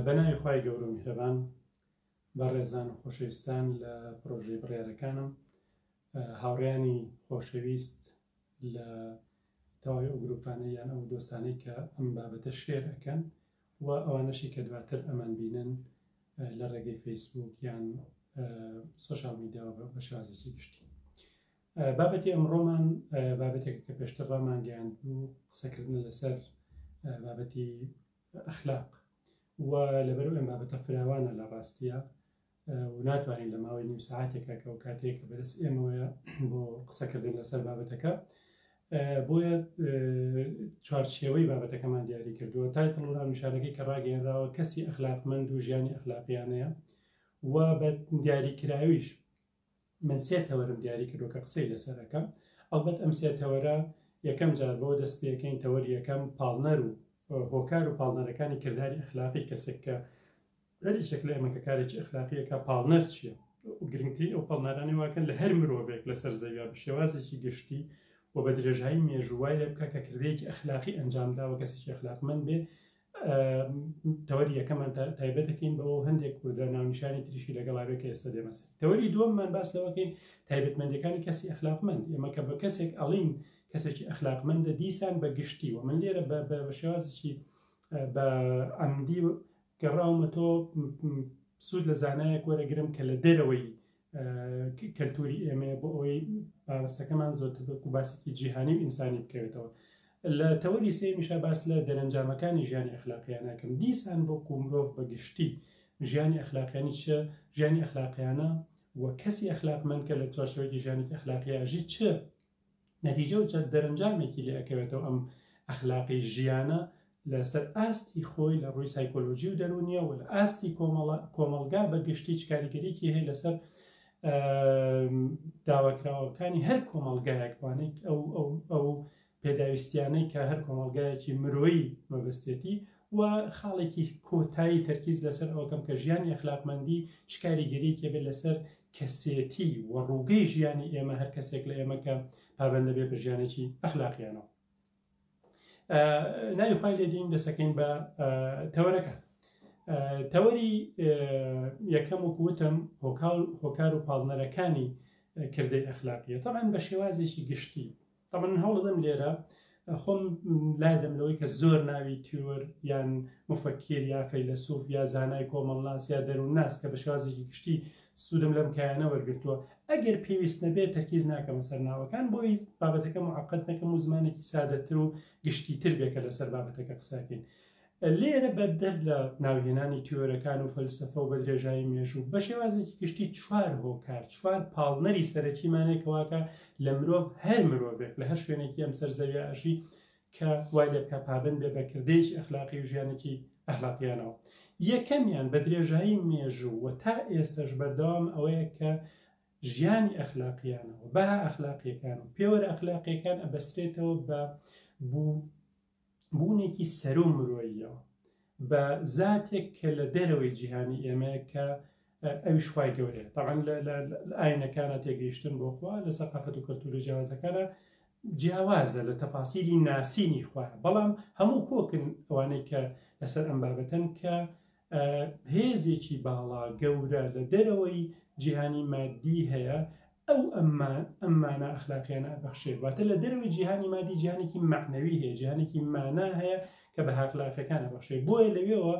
بە ناوی خوای گەورە و میهرەبان بەڕێزان و خۆشەویستان لە پرۆژەی بڕیارەکانم هاوڕیانی خۆشەویست لە تەواوی ئەو گروپانە یان ئەو دۆستانەی کە ئەم بابەتە شێر ئەەکەن و ئەوانەشی کە دواتر ئەمان بینن لە ڕێگەی فەیسبوک یان سوۆشال میدیاوە بە شازێکی گشتی بابەتی ئەمڕۆمان بابەتێک کە پێشتر ڕامانگەیاند بوو قسەکردن لەسەر بابەتی ئەخلاق و لەبەر ئەم بابەتە فراوانە لە ڕاستیە و ناتوانین لە ماوەی نیو ساعتێکە کە و کاتێک کە بەرز ئێمەوەە بۆ قسەکردن لەسەر بابەتەکە بۆیە چوارچێوەی بابەتەکەمان دیاری کردووە تای تەڵوران نیشانەکەی کە ڕاگەێنراوە کەسی ئەخلاقمەند و ژیانی ئەخلاقیانەیە و بە دیاریکراویش من سێ تەوەرم دیاری کردو کە قسەی لەسەر ئەکەم ئەڵبەت ئەم سێ تەوەرە یەکەم جار بۆ دەست پێکەین تەوەر یەکەم پاڵنەر و هۆکار و پاڵنەرەکانی کردداری ئەخلاقی کەسێک کە هەریشێک لە ئێمە کە کارێکی ئەخلاقیەکە پاڵنەر چییە گرنگترین ئەو پاڵنەرانی واکەن لە هەر مرۆڤێک لەسەر زەویا بە شێوازێکی گشتی و بە درێژایی مێژووای لە بکە کە کردێکی ئەخلاقی ئەنجام داوە کەسێکی ئەخلاقمەند بێ تەوەری یەکەمان تایبەتەکەین بەەوە هەندێک کوردە ناونیشانی تریشی لەگەڵاوێک کە ئێستا دێمەسە تەوەری دووەممان باس لەوەکەین تایبەتمەندەکانی کەسی ئەخلاقمەند ئێمە کە بە کەسێک ئەڵین کەسێکی ئەخلاقمەندە دیسان بە گشتی و من لێرە بە شێوازی بە ئەمدی گەڕاومە تۆ سوود لە زانایەک وەرەگرم کە لە دەرەوەی کەلتوری ئێمەیە بۆ ئەوەی بابەسەکەمان زۆرتر بەکو باسێکی جیهانی و ئینسانی بکەوێتەوە لە تەوەری سێمیشە باس لە دەرەنجامەکانی ژیانی ئەخلاقیانەکەم دیسان بۆ کومرۆڤ بەگشتی ژیانی ئەخلاقیانی چ ژیانی ئەخلاقیانە و کەسی ئەخلاقمەند کە لە چوارچەوەی ژیانی ئەخلاقیاژی چ نەتیجە و دەرەنجامێکی لێ ئەکەوێتەوە ئەم ئەخلاقی ژیانە لەسەر ئاستی خۆی لە ڕووی سایکۆلۆژی و دەرونیە و لە ئاستی کۆمەلگا بە گشتی چ کاریگەریکی هەیە لەسەر داواکراوەکانی هەر کۆمەلگایەکوانێت ئەو ئەو پێداویستیانەی کە هەر کۆمەلگایەکی مرۆیی مەبستێتی و خاڵێکی کۆتایی تەرکیز لەسەر ئەوکەم کە ژیانی ئەخلاقمەندی چ کاریگەریکی بێت لەسەر کەسێتی و ڕووگەی ژیانی ئێمە هەر کەسێک لە ئێمە کە پابندە بێ بە ژیانێکی ئەخلاقیانەوە ناوی خی لێدین دەسەکەین بە تەوەرەکە تەوەری یەکەم و کوتم هۆکال هۆکار و پاڵنەرەکانی کردەی ئەخلاقیە تاان بە شێوازێکی گشتی تەبەن من هەوڵەدەم لێرە خۆم لادەم لەوەی کە زۆر ناوی تیۆر یان مفەکیر یا فەیلەسوف یا زانای کۆمەڵناس یا دەروونناس کە بە شێوازێکی گشتی سوودم لەم کایانە وەرگتووە ئەگەر پێویست نەبێت تەرکیز ناکەمە سەر ناوەکان بۆی بابەتەکە معقد نەکەم و زمانێکی سادەتر و گشتی تر بێکە لەسەر بابەتەکە قساکەین لێرە بەدەر لە ناوهێنانی تیۆرەکان و فەلسەفە و بە درێژایی مێژوو بە شێوازێکی گشتی چوار هۆکار چوار پاڵنەری سەرەکیمانێکەوەکە لە مرۆڤ هەر مرۆڤێک لە هەر شوێنێکی ئەم سەر زەوی ئەژی کە وای لە بکە پابند بێ بە کردێک ئەخلاقی و ژیانێکی ئەخلاقیانەوە یەکەمیان بە درێژایی مێژوو و تا ئێستش بەردەوام ئەوەیە کە ژیانی ئەخلاقیانەوە بە ئەخلاقیەکان و پێوەرە ئەخلاقیەکان ئەبەسرێتەوە بە بوو بوونێکی سەرو مرۆییە بە زاتێک کە لە دەرەوەی جیهانی ئێمەیە کە ئەویش خوای گەورەیە تاعاان لە ئاینەکانە تێگەیشتن بۆ خوا لە سەقافەت و کەلتورە جیاوازەکانە جیاوازە لە تەفاسیلی ناسینی خوارە بەڵام هەموو کۆکن ئەوانەی کە لەسەر ئەم بابەتەن کە هێزێکی باڵا گەورە لە دەرەوەی جیهانی مادی هەیە ئەو ئەمما ئەممانە ئەخلاقیانە ئەبەخشێت واتە لە دەرەوەی جیهانی مادی جیهانێکی معنەوی هەیە جیهانێکی مانا هەیە کە بە هاخلاقەکان ئەبەخشێ بۆیە لەوێەوە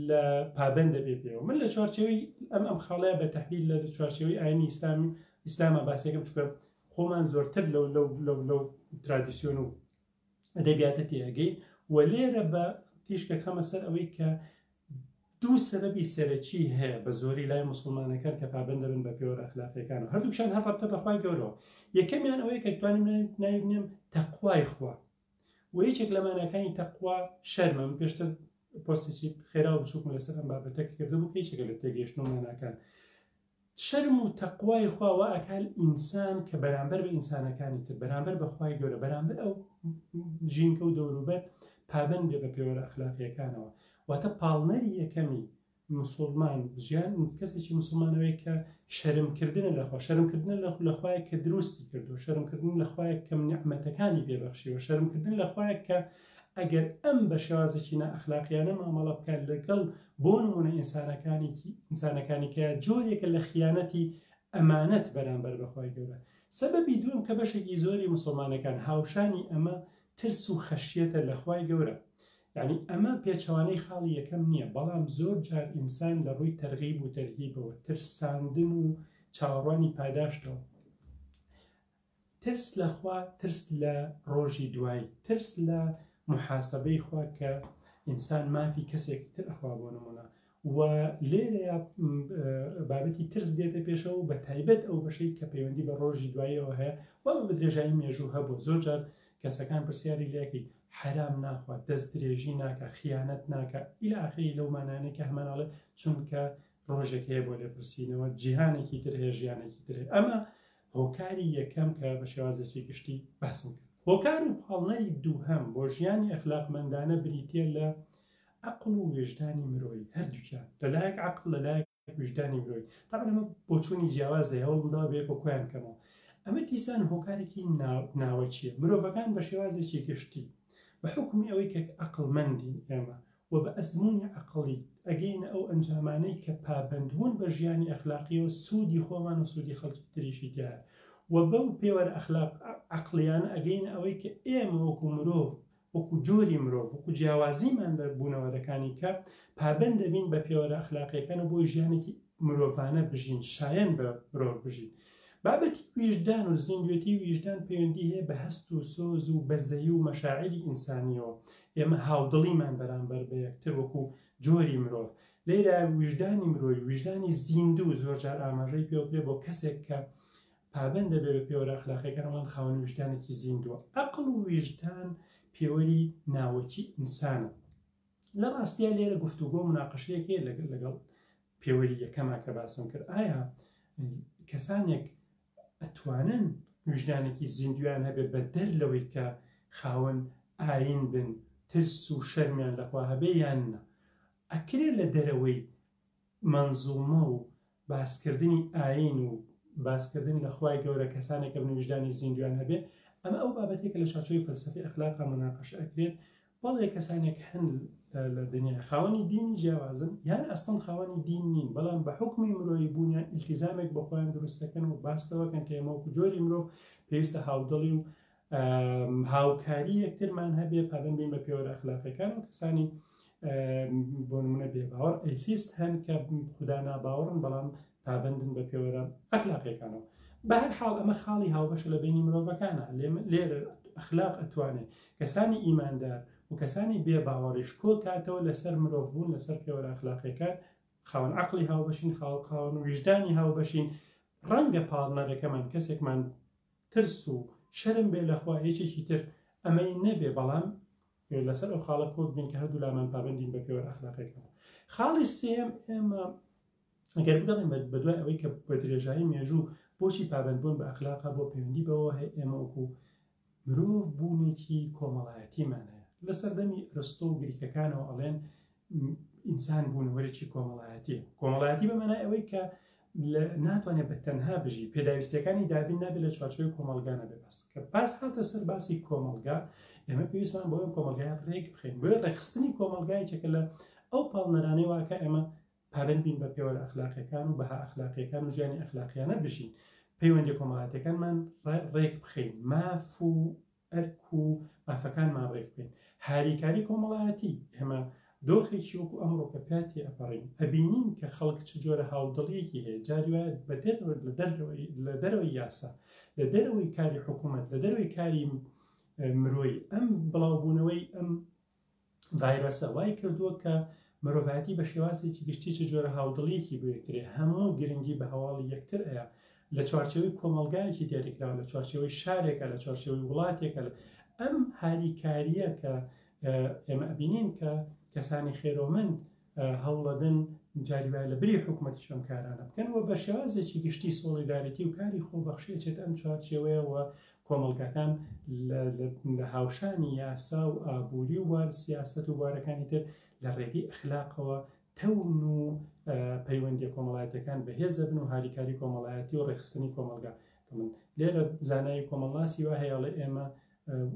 لە پابند دەبێ پێەوە من لە چوارچەوەی ئەم ئەم خاڵەیە بە تحلیل لە چوارچەوەی ئاینی ئیسلام ئیسلامە باسێکم چکە خۆمان زۆرتر لەو لەو لەو لەو ترادیسیۆن و ئەدەبیاتە تێئەگەین و لێرە بە تیشکەکەمە سەر ئەوەی کە دوو سەرەبی سەرەکی هەیە بە زۆری لای مسلمانەکان کە پابند دەبن بە پێوەر ئەخلاقیەکان و هەردووشان هەر ڕەبتە بەخوای گەورەوە یەکەمیان ئەوەیە کە توانیم ناوینێم تەقوای خوا و یەکێک لە مانەکانی تەقوا شەرمە من پێشتر پۆستی خێرا و بچووکم لەسەر ئەم بابەتەکە کردبوو کە یەکێکە لە تێگەیشتنەوە ماناکان شەرم و تەقوای خوا وا ئەکال ئینسان کە بەرامبەر بە ئینسانەکانی تر، بەرامبەر بە خوای گەورە، بەرامبەر ئەو ژینکە و دەوروبەر پابەند بێ بە پێوەرە ئەخلاقییەکانەوە. واتە پاڵنەری یەکەمی موسوڵمان ژیان کەسێکی موسوڵمانەوەی کە شەرم کردنە لە خوا، شەرم کردنە لە لە خوایەک کە دروستی کردووە، شەرم کردن لە خوایەک کە نیعمەتەکانی پێ بەخشیوە، شەرم کردن لە خوایەک کە ئەگەر ئەم بە شێوازێکی نائەخلاقیانە مامەڵە بکات لەگەڵ بۆ نموونە ئینسانەکانێکی ئینسانەکانی کە جۆرێکە لە خیانەتی ئەمانەت بەرامبەر بە خوای گەورە سەبەبی دووەم کە بەشێکی زۆری مسلمانەکان هاوشانی ئەمە ترس و خەشیەتە لە خوای گەورە یعنی ئەمە پێچەوانەی خاڵی یەکەم نییە بەڵام زۆر جار ئینسان لە ڕووی تەرغیب و تەرهیبەوە ترساندن و چاوەڕوانی پاداشتەوە ترس لە خوا، ترس لە ڕۆژی دوایی، ترس لە موحاسەبەی خوا کە ئینسان مافی کەسێکی تر ئەخوا بۆ نموونە و لێرەیە بابەتی ترس دێتە پێشەوە بە تایبەت ئەو بەشەی کە پەیوەندی بە ڕۆژی دواییەوە هەیە وە بە درێژایی مێژوو هەبوو زۆر جار کەسەکان پرسیاری لەکەی حرام ناخوات دەست درێژی ناکە خیانەت ناکە ئیلا ئاخری لەو مانانێک کە هەمانناڵێ چونکە ڕۆژێک هەیە بۆ لێپرسینەوە جیهانێکی تر هەیە ژیانێکی تر ئەمە هۆکاری یەکەم کە بە شێوازێکی گشتی باسم کرد هۆکار و پاڵنەری دووهەم بۆ ژیانی ئەخلاقمەندانە بریتە لە عقل و وێژدانی مرۆی هەردووچیان لەلایەک عقل لەلایەک ویژدانی مرۆی تاەمە بۆچوونی جیاواز لە هەوڵمدا بێکۆ کویان کەمەوە ئەمە دیسان هۆکارێکی ناوەچیە مرۆڤەکان بە شێوازێکی گشتی بە حکومی ئەوەی کە عقلمەندی ئێمە و بە ئەزموونی عەقڵی ئەگەینە ئەو ئەنجامانەی کە پابەندبوون بە ژیانی ئەخلاقییەوە سوودی خۆمان و سوودی خەڵکی تریشی تیایە و بەو پێوەرە ئەخلاق عەقڵییانە ئەگەینە ئەوەی کە ئێمە وەکو مرۆڤ وەکو جۆری مرۆڤ وەکو جیاوازیمان لە بوونەوەرەکانی کە پابەند دەبین بە پێوەرە ئەخلاقییەکان و بۆی ژیانێکی مرۆڤانە بژین شایەن بە مرۆڤ بژین بابەتی ویژدان و زیندوێتی ویژدان پەیوەندی هەیە بە هەست و سۆز و بەزەی و مەشاعری ئینسانیەوە ئێمە هاودڵیمان بەرامبەر بە یەکتر وەکو جۆری مرۆڤ لێرە ویژدانی مرۆی ویژدانی زیندوو زۆرجار ئاماژەی پێوکرێ بۆ کەسێک کە پابند دەبێت بە پێوەرە ئەخلاقیەکانمان خاوەن ویژدانێکی زیندووە ئەقل و ویژدان پێوەری ناوەکی ئینسانە لە ڕاستیا لێرە گفتوگۆ مناقەشەیەک هەیە لەگەڵ لەگەڵ پێوەری یەکەما کە باسم کرد ئایا کەسانێک ئەتوانن وژدانێکی زیندویان هەبێت بە دەر لەوەی کە خاوەن ئاین بن ترس و شەرمیان لەخوا هەبێ یان نە ئەکرێ لە دەرەوەی مەنزوومە و باسکردنی ئایین و باسکردن لە خوای گەورە کەسانێک ئەبن ویژدانی زیندوویان هەبێ، ئەمە ئەو بابەتێکە لە چاچوی فەلسەفی ئەخلاقا موناقەشە ئەکرێت، بەڵێ کەسانێک هەن لە دنیا خاوەنی دینی جیاوازن یان ئەسڵەن خاوەنی دین نین بەڵام بە حوکمی مرۆیی بوونیان ئیلتیزامێک بە خۆیان دروست دەکەن و باس لەوەکەن کە ئێمە وەکو جۆری مرۆڤ پێویستە هاودڵی و هاوکاری یەکترمان هەبێ پابند بین بە پێوەرە ئەخلاقیەکان و کەسانی بۆ نمونە بێباوەڕ ئەیفیست هەن کە خوددا ناباوەڕن بەڵام پابندن بە پێوەرە ئەخلاقیەکانەوە بە هەر حاڵ ئەمە خاڵی هاوبەش لە بینی مرۆڤەکانە لێرە ئەخلاق ئەتوانێت کەسانی ئیماندار و کەسانی بێ باوەڕیش کۆ کاتەوە لەسەر مرۆڤ بوون لەسەر پێوەرە ئەخلاقیەکان خاون عقلی هاوبەشین خاڵ خاون و ویژدانی هاوبەشین ڕەنگە پاڵنەرەکەمان کەسێکمان ترس و شەرم بێ لە خوا یەکێکی تر ئەمەی نەبێ بەڵام لەسەر ئەو خاڵە کۆک بین کە هەردوو لامان پابندین بە پێوەر ئەخلاقێکەوە خاڵی سێم ئێمە ئەگەر بگەڵین بە دوای ئەوەی کە بە درێژایی مێژوو بۆچی پابندبوون بە ئەخلاقا بۆ پەیوەندی بەوە هەیە ئێمە وەکو مرۆڤ بوونێکی کۆمەڵایەتیمانەیە لە سەردەمی رستۆ و گریکەکانەوە ئەڵێن ئینسان بوونەوەرێکی کۆمەڵایەتی کۆمەڵایەتی بە مەنای ئەوەی کە ناتوانێت بە تەنها بژی پێداویستەکانی دابین نابێت لە چوارچوی کۆمەلگا نەبێ بەس کە پاس هاتە سەر باسی کۆمەلگا ئێمە پێویستمان بۆ کۆمەلگای ڕێک بخین بۆ ڕێخستنی کۆمەلگایەکە لە ئەو پاڵنەرانەی واکە ئێمە پابند بین بە پێوە لە ئەخلاقیەکان و بەها ئەخلاقیەکان و ژیانی ئەخلاقیانە بژین پەیوەندی کۆمەڵاتەکانمان ڕێک بخین ماف و ئەرک و مافەکانمان ڕێک بکەین. هاریکاری کۆمەڵایەتی، ئێمە دۆخێکی وەکو ئەمڕۆ کە پیا تێئەپەڕین، ئەبینین کە خەڵک چ جۆرە هاودڵییەکی هەیە، جاری وایە لە دەرەوەی یاسا، لە دەرەوەی کاری حکوومەت، لە دەرەوەی کاری مرۆیی، ئەم بڵاوبوونەوەی ئەم ڤایرۆسە وای کردووە کە مرۆڤایەتی بە شێوازێکی گشتی چ جۆرە هاودڵیەکی بۆ یەکترێ هەموو گرنگی بە هەواڵی یەکتر ئەیە لە چوارچێوەی کۆمەڵگایەکی دیاریکراوە لە چوارچێوەی شارێکە لە چوارچێوەی وڵاتێکە ئەم هاریکاریە کە ئێمە ئەبینین کە کەسانی خێرۆمەند هەوڵەدەن جاری وایە لە بری حکوومەتیش ئەم کارانە بکەن و بە شێوازێکی گشتی سۆڵیدارێتی و کاری خۆبەخشی ئەچێت ئەم چوارچێوەیەوە کۆمەڵگاکان لە هاوشانی یاسا و ئابووری و وار سیاست و وارەکانی تر لە ڕێگەی ئەخلاقەوە تەون و پەیوەندی کۆمەڵایەتەکان بەهێزە بن و هاریکاری کۆمەڵایەتی و ڕێخستنی کۆمەلگا من لێرە زانایی کۆمەڵناسی وە هەیەڵێ ئێمە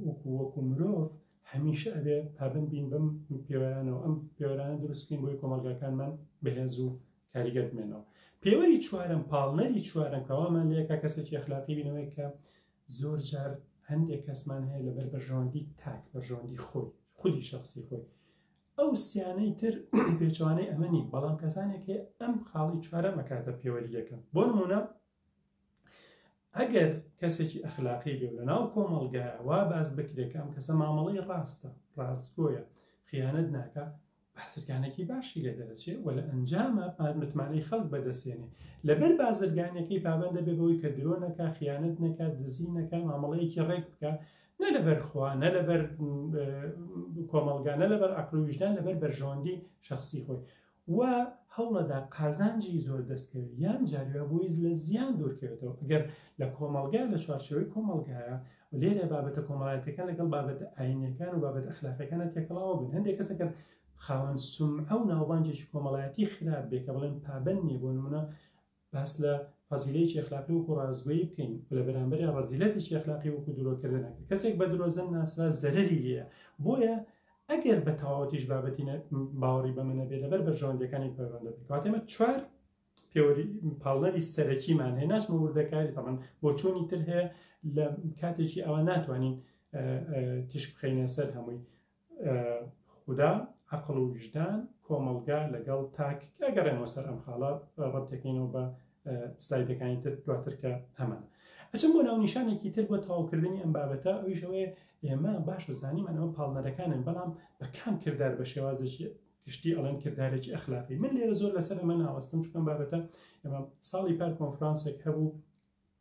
وەکو وەکو مرۆڤ هەمیشە ئەبێ پابەند بین بەم پێوەرانەوە ئەم پێوەرانە دروست بکەین بۆی کۆمەڵگاکانمان بەهێز و کاریگەر بمێنەوە پێوەری چوارم پاڵنەری چوارم کەوامان لەکە کەسێکی اخلاقی بینەوەی کە زۆر جار هەندێک کەسمان هەیە لەبەر بەرژەوەندی تاک بەرژەوەندی خۆی خودی شخصی خۆی ئەو سیانەی تر پێچوانەی ئەمەنی بەڵام کەسانێک هەیە ئەم خاڵی چوارە مەکاتە پێوەری یەکەم بۆ نمونە ئەگەر کەسێکی ئەخلاقی بێ لە ناو کۆمەڵگایە وا باس بکرێت کە ئەم کەسە مامەڵەی ڕاستە ڕاستگۆیە خیانەت ناکە بەسرگانێکی باشی لێ دەرەچێ و لە ئەنجامە متمانەی خەڵک بەدەسێنێ لەبەر بازرگانەکەی پابندە بێ بەوەی کە درۆ نەکە خیانەت نەکات دزی نەکە مامەڵەیەکی ڕێک بکە نە لەبەر خوا نە لەبەر کۆمەلگانە لەبەر ئەقلویشدان لەبەر بەرژەوەندی شخصی خۆی و هەوڵەدا قازانجی زۆر دەستکەوێت یان جاروێ بۆیز لە زیان دوورکەوێتەوە ئەگەر لە کۆمەڵگا لە چوارچێوەی کۆمەڵگایە و لێرە بابەتە کۆمەڵاتەکان لەگەڵ بابەتە ئاینەکان و بابەت ئەخلاقەکانە تێکەڵاوە بن هەندێک کەسەکەن خاوەن سم ئەو ناوبانجێکی کۆمەڵایەتی خراپ بێ کە بڵێن پابەن نیە بۆ نمونە باس لە فەزیلەیەکی ئەخلاقی وەکو ڕاستگۆیی بکەین و لە بەرامبەریا ڕەزیلەتێکی ئەخلاقی وەکو درۆکردن ئەکرێت کەسێک بە درۆزن ناسرا زەرەری لێیە بۆیە ئەگەر بە تەواوەتیش بابەتی باوەڕی بەمە نەبێت لەبەر بەرژەوەندەکانی پەیوەندە بکات ئێمە چوار پێوەری پاڵنەری سەرەکیمان هەیە ناچمە وردەکاری تەمان بۆ چۆنی تر هەیە لە کاتێکی ئەوە ناتوانین تیشک بخەینە سەر هەمووی خودا، عەقڵ و ویژدان، کۆمەڵگا لەگەڵ تاک کە ئەگەڕێمەوە سەر ئەم خاڵە ڕەبط دەکەینەوە بە سلایدەکانی تر دواتر کە هەمان ئەچم بۆ ناونیشانێکی تر بۆ تەواوکردنی ئەم بابەتە ئەویش ئەوەیە ئێمە باش دەزانیمان ئەوە پاڵنەرەکانن بەڵام بە کام کردار بە شێوازێکی گشتی ئەڵێن کردارێکی ئەخلاقی من لێرە زۆر لەسەر ئەمە ناوەستم چکم بابەتە ئەمە ساڵی پار کۆنفرانسێک هەبوو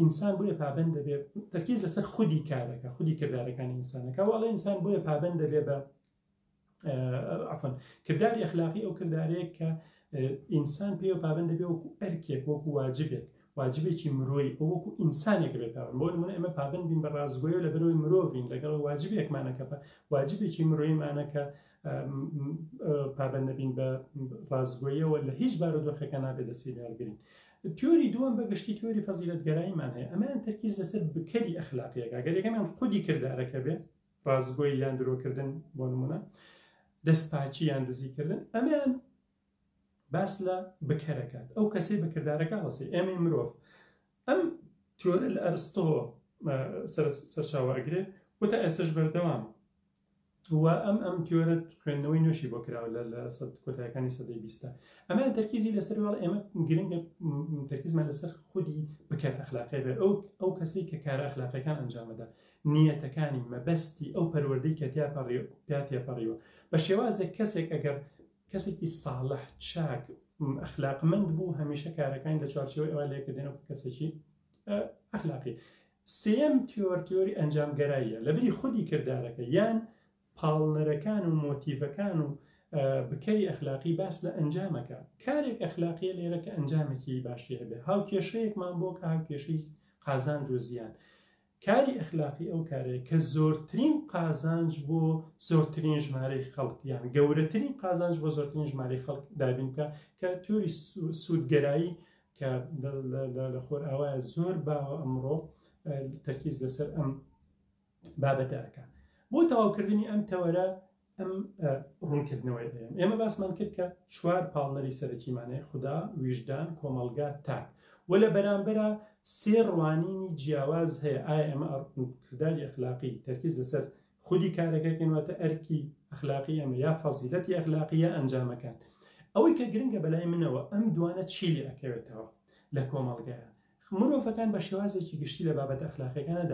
ئینسان بۆیە پابەند دەبێت تەرکیز لەسەر خودی کارەکە خودی کردارەکانی ئینسانەکە واڵە ئینسان بۆیە پابەند دەبێت بە عفن کرداری ئەخلاقی ئەو کردارەیە کە ئینسان پێ پابند دەبێ وەکو ئەرکێک وەکو واجبێک واجبێکی مرۆی ئەو وەکو ئینسانێک بێت پابند بۆ من ئەمە پابند بین بە ڕازگۆی لە بەرەوەی مرۆڤین لەگەڵ واجبێکمانەکە بە واجبێکی مرۆیمانەکە پابند نەبین بە ڕازگۆیەوە لە هیچ بارو دۆخەکە نابێت دەستی داگرین تیۆری دووەم بە گشتی تیۆری فەزیلەتگەراییمان هەیە، ئەمەیان تەرکیز لەسەر بکەری ئەخلاقی ئەکا، گەر یەکەمیان خودی کردارەکە بێ، ڕاستگۆیی یان درۆکردن بۆ نموونە، دەستپاکی یان دزیکردن، ئەمەیان باس لە بکەر ئەکات، ئەو کەسەی بە کردارەکە هەڵەسێ، ئێمەی مرۆڤ ئەم تیۆرە لە ئەرستۆوە سەرچاوە ئەگرێ، وتە ئێستەش بەردەوامە. و ئەم ئەم تیۆرە خوێندنەوەی نوێشی بۆ کراوە لە لە سەد کۆتایەکانی سەدەی بیستە ئەمە تەرکیزی لەسەر واڵ ئێمە گرنگە تەرکیزمان لەسەر خودی بکەن ئەخلاقی بێ ئەو ئەو کەسەی کە کارە ئەخلاقەکان ئەنجامەدا نیەتەکانی مەبەستی ئەو پەروەردەی کە تیا پەڕی پیا تێپەڕیوە بە شێوازێک کەسێک ئەگەر کەسێکی ساڵح چاک ئەخلاقمەند بوو هەمیشە کارەکانی لە چوارچەوەی ئەوە لێکردێنەوە کەسێکی ئەخلاقی سێیەم تیۆر تیۆری ئەنجامگەراییە لەبری خودی کردارەکە یان پاڵنەرەکان و مۆتیڤەکان و بکەری ئەخلاقی باس لە ئەنجامەکە کارێک ئەخلاقیە لێرە کە ئەنجامێکی باشی هەبێ هاو کێشەیەکمان بۆ کە هاو کێشەی قازانج و زیان کاری ئەخلاقی ئەو کارێک کە زۆرترین قازانج بۆ زۆرترین ژمارەی خەڵک یان گەورەترین قازانج بۆ زۆرترین ژمارەی خەڵک دابین بکە کە تۆری سوودگەرایی کە لە خۆرئاوایە زۆر باوە ئەمڕۆ تەرکیز لەسەر ئەم بابەتە ئەکا بۆ تەواوکردنی ئەم تەوەرە ئەم ڕوونکردنەوەی ئێم ئێمە باسمان کرد کە چوار پاڵنەری سەرەکیمانەیە خوددا ویژدان کۆمەلگا تاک و لە بەرامبەرە سێ ڕوانینی جیاواز هەیە ئایا ئێمە کردداری ئەخلاقی تەرکیز لەسەر خودی کارەکەکەین واتە ئەرکی ئەخلاقی ئەمە یا فەزیلەتی ئەخلاقی یا ئەنجامەکان ئەوەی کە گرنگە بەلای منەوە ئەم دوانە چی لێ ئەکەوێتەوە لە کۆمەڵگەیان مرۆڤەکان بە شێوازێکی گشتی لە بابەت ئەخلاقیەکانە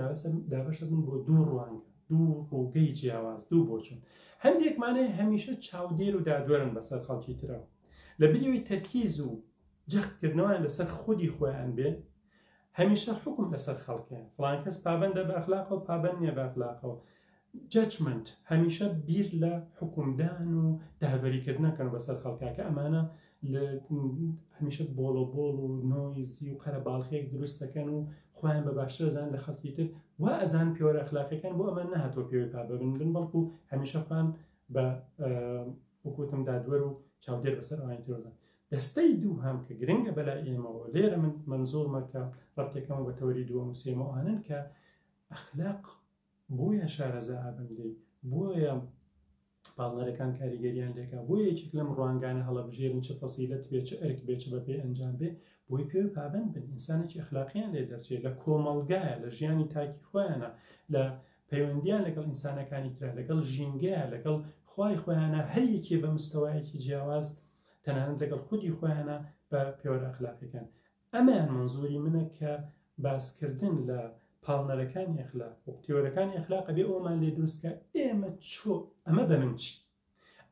دابەشە بن بۆ دوو ڕوانگە دوو ڕووگەی جیاواز دوو بۆچون هەندێکمانێ هەمیشە چاودێر و دادوەرن بەسەر خەڵکی ترەوە لە بریەوەی تەرکیز و جەختکردنەوەیان لەسەر خودی خۆیان بێ هەمیشە حوکم لەسەر خەڵکێ فڵان کەس پابەندە بە ئەخلاقەوە پابەند نیە بە ئەخلاقەوە جەچمنت هەمیشە بیر لە حکومدان و دابەریکردنەکەن بەسەر خەڵکاکە ئەمانە هەمیشە بۆڵۆ بۆڵ و نۆیزی و قەرە باڵخێک دروستەکەن و خۆیان بە باشترزان لە خەڵکی تر و ئەزان پێوەرە خلاقەکان بۆ ئەمان نهاتۆ پێوەی پابەبن بن بەڵکو هەمیشە خوان بە وکوتم دادوەر و چاودێر بەسەر ئەوانی ترۆدان دەستەی دووهەم کە گرنگە بەلای ئێمەوە لێرە من مەنزووڕمە کە ڕەتێکەمە بە تەوەری دووەم و سێمە ئەوانن کە ئەخلاق بۆیە شارەزا ئابن لێ بۆیە پاڵنەرەکان کاریگەریان لێکا بۆ یەکێک لەم ڕوانگانە هەڵەبژێرن چ فەسیلت بێ چ ئەرک بێ چ بە پێ ئەنجام بێ بۆی پێ پابند بن ئینسانێکی ئەخلاقیان لێ دەرچێت لە کۆمەڵگایە لە ژیانی تاکی خۆیانە لە پەیوەندیان لەگەڵ ئینسانەکانی تررا لەگەڵ ژینگەیە لەگەڵ خی خۆیانە هەر یەکێ بە مستەوایەکی جیاواز تەنانەت لەگەڵ خودی خۆیانە بە پێوەرە ئەخلاقیەکان ئەمەیان منزوری منە کە باسکردن لە پاڵنەرەکانی ئەخلاق و تێوەرەکانی ئەخلاق بێ ئەومان لێ دروستکە ئێمە چۆ ئەمە بە من چی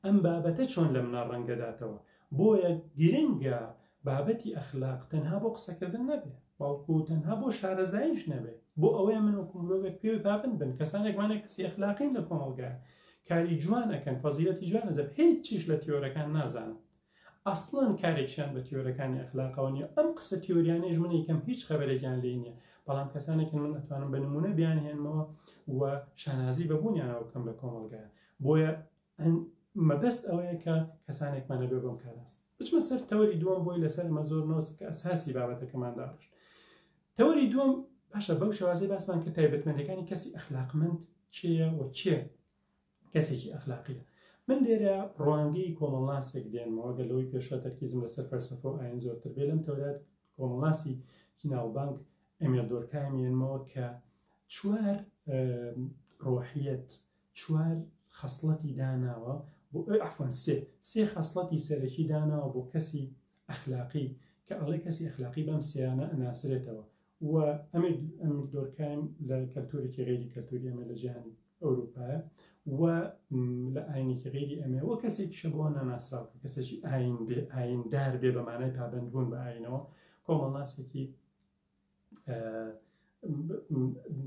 ئەم بابەتە چۆن لە منە ڕەنگەداتەوە بۆیە گرنگە بابەتی ئەخلاق تەنها بۆ قسەکردن نەبێت بەڵکو تەنها بۆ شارەزاییش نەبێت بۆ ئەوەیە من وەکو مرۆڤێک پێوەی پابند بن کەسانێکمانە کەسی ئەخلاقین لە کۆمەڵگە کاری جوان ئەکەن فەزیلەتی جوان ئەجەب هیچیش لە تیۆرەکان نازانن ئەسڵەن کارێکیان بە تیۆرەکانی ئەخلاقەوە نیە ئەم قسە تیۆریانەش من یکەم هیچ خەبەرێکیان لێ نییە بەڵام کەسانێکن من ئەتوانم بە نمونە بیان هێنمەوە و شانازی بەبوونیانەوە بکەم لە کۆمەڵگایە بۆیە مەبەست ئەوەیە کە کەسانێکمانە بێ بۆم کاراست بچمە سەر تەوەری دووەم بۆی لەسەر مە زۆر نۆسک ئەساسی بابەتەکەمان داڕشت تەوەری دووەم، باشە بەو شێوازەی باسمان کرد تایبەتمەندیەکانی کەسی ئەخلاقمەند کێیە و کێ کەسێکی ئەخلاقیە؟ من لێرە ڕوانگەی کۆمەڵناسێک دێنمەوە گەر لەوەی پێشوە تەرکیزم لەسەر فەرسەفە و ئاین زۆرتر بێ لەم تەورات کۆمەڵناسی کیناوبانک ئەمێل دۆرکایمێنمەوە کە چوار ڕۆحیەت چوار خەسڵەتی داناوە بۆ ئەو عەفوەن سێ سێ خەسڵەتی سەرەکی داناوە بۆ کەسی ئەخلاقی کە ئەڵێ کەسی ئەخلاقی بەم سێیانە ئەناسرێتەوە و ئەمێ ئەم دۆرکایم لە کەلتورێکی غێری کەلتوری ئەمێ لە جیهانی ئەوروپایە و لە ئاینێکی غێری ئەمێ وە کەسێکی شە بۆ ناناسراو کە کەسێکی ئاین بێ ئایندار بێ بەمانای پابندبوون بە ئاینەوە کۆمەڵناسێکی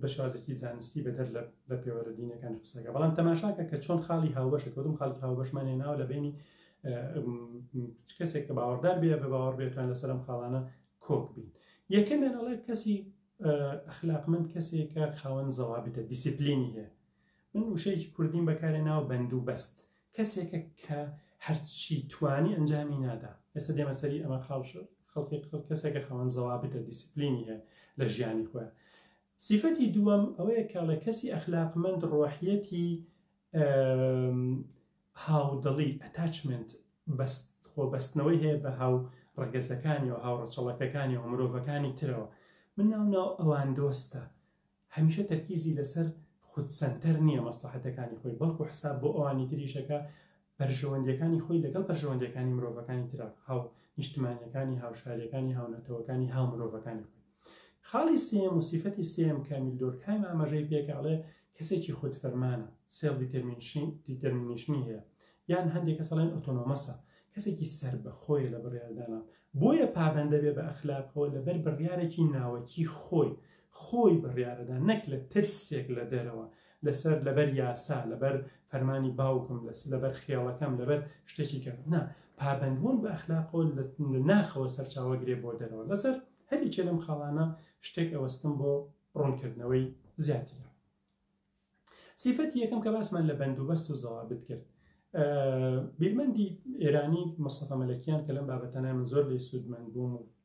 بە شێوازێکی زانستی بەدەر لە پێوەرە دینەکان قسەکە بەڵام تەماشاکە کە چۆن خاڵی هاوبەش کەوتم خاڵی هاوبەشمانێ ناوە لە بینی کەسێک کە باوەڕدار بێ بە باوەڕ بێتان لەسەرم خاڵانە کۆک بین یەکەمیان ئەڵێ کەسی ئەخلاق من کەسێکە خاوەن زەوابتە دیسیپلینی هەیە من وشەیەکی کوردیم بەکارێ ناو بەند و بەست کەسێکە کە هەرچی توانی ئەنجامی نادا ئێستا دێمە سەری ئەمە خاڵش خەڵکی خەڵ کەسێکە خەوەن زەوابتە دیسپلینی هەیە لە ژیانی خۆیان سیفەتی دووەم ئەوەیە کاڵێ کەسی ئەخلاقمەند ڕۆحیەتی هاودڵی ئەتاچمنت بەست خۆبەستنەوەی هەیە بە هاو ڕەگەزەکانی و هاوڕەچەڵەکەکانی و مرۆڤەکانی ترەوە من ناو ناو ئەوان دۆستە هەمیشە تەرکیزی لەسەر خود سەنتەر نییە مەسڵەحەتەکانی خۆی، بەڵکو حساب بۆ ئەوانی تریش ئەکا، بەرژەوەندییەکانی خۆی لەگەڵ بەرژەوەندییەکانی مرۆڤەکانی ترە، هاونیشتمانییەکانی، هاوشارییەکانی، هاونەتەوەکانی، هاومرۆڤەکانی خۆی. خاڵی سێیەم و سیفەتی سێیەم کە ئەمیل دۆرکهایم ئاماژەی پێکا ئەڵێ، کەسێکی خودفەرمانە، سێڵف دیتەرمینیشنی هەیە، یان هەندێ کەس ئەڵێن ئۆتۆنۆمەسە، کەسێکی سەربەخۆیە لە بڕیاردانان، بۆیە پابەندەبێ بە ئەخلاقەوە لەبەر بڕیارێکی ناوەکی خۆی، خۆی بڕیارەدا نەک لە ترسێک لە دەرەوە لەسەر لەبەر یاسا لەبەر فەرمانی باوکم لەس لەبەر خێڵەکەم لەبەر شتێکی کە نا پابندبوون بە ئەخلاقۆ لە ناخەوە سەرچاوە گرێ بۆ دەرەوە لەسەر هەریکێ لەم خاڵانە شتێک ئەوەستم بۆ ڕوونکردنەوەی زیاتر سیفەتی یەکەم کە باسمان لە بەندوبەست و زەوابت کرد بیرمەندی ئێرانی مستەفە مەلەکیان کە لەم بابەتەنای من زۆر لێ سوودمەند بووم و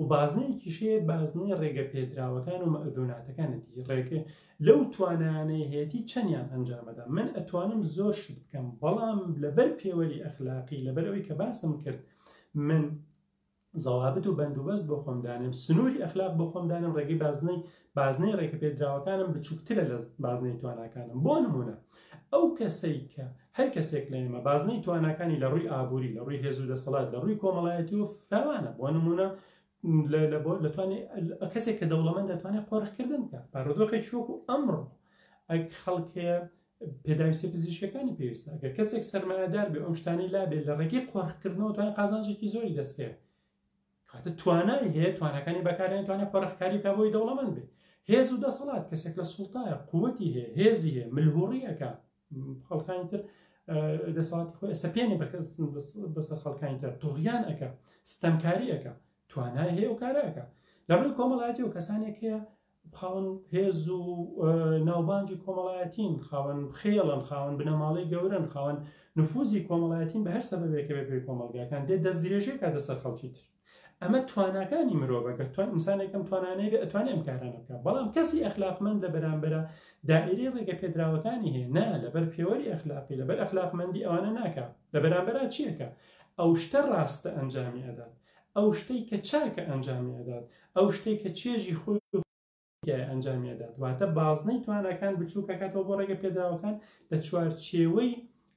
و بازنەیەکیش هەیە بازنەی ڕێگە پێدراوەکان و مەئذوناتەکانەتی ڕێگە لەو توانانەی هەیەتی چەندیان ئەنجامەدا من ئەتوانم زۆر شت بکەم بەڵام لەبەر پێوەری ئەخلاقی لەبەر ئەوی کە باسم کرد من زەوابت و بەندوبەست بۆ خۆمدانم سنووری ئەخلاق بۆ خۆمدانم ڕێگەی بازنەی بازنەی ڕێکەپێدراوەکانم بچووکترە لە بازنەی تواناکانم بۆ نمونە ئەو کەسەی کە هەر کەسێک لە ئێمە بازنەی تواناکانی لە ڕووی ئابووری لە ڕووی هێزو دەسەڵات لە ڕووی کۆمەڵایەتی و فراوانە بۆ نمونە لەتوانێت کەسێک کە دەوڵەمەند دەتوانێت قۆرخکردن بکە بارودۆخێک شوەکو ئەمڕۆ ئەک خەڵکەیە پێداویستە پزیشکەکانی پێویستە گە کەسێک سەرمایەدار بێ ئەم شتانی لابێت لە ڕێگەی قۆرخکردنەوە توانێت قازانجێکی زۆری دەستکەێت کاتە توانای هەیە توانەکانی بەکارێن توانێت پەرخکاری کا بۆی دەوڵەمەند بێ هێز و دەسەڵات کەسێک لە سوڵتایە قوتی هەیە هێزی هەیە ملهوڕیەکە خەڵکانی تر دەسەڵاتی خۆی ئەسەپێنێ بەسەر خەڵکانی تر تۆغیان ئەەکە ستەمکاری ئەەکە توانای هەیە و کارەکە لەڕووی کۆمەڵایەتی و کەسانێک هەیە خاوەن هێز و ناوبانگی کۆمەڵایەتین، خاوەن خێڵن، خاوەن بنەماڵەی گەورەن، خاوەن نفوزی کۆمەڵایەتین بە هەر سەبەبێکە بێ پێ کۆمەڵگاکان دێ دەستدرێژی کاتە سەر خەڵکی تر. ئەمە تواناکانی مرۆڤە گەر توان ئینسانێکم توانانەی بێ ئەتوانێ ئەم کارانە بکە بەڵام کەسی ئەخلاقمەند لە بەرامبەرە دائری ڕێگە پێدراوەکانی هەیە نا لەبەر پێوەری ئەخلاقی لەبەر ئەخلاقمەندی ئەوانە ناکە لە بەرامبەرا چیەکە ئەو شتە ڕاستە ئەنجامی ئەدات ئەو شتەی کە چاکە ئەنجامی ئەدات، ئەو شتەی کە چێژی خۆی و تایبەتیایە ئەنجامی ئەدات، واتە بازنەی تواناکان بچووک ئەکاتەوە بۆ ڕێگە پێدراوەکان لە چوارچێوەی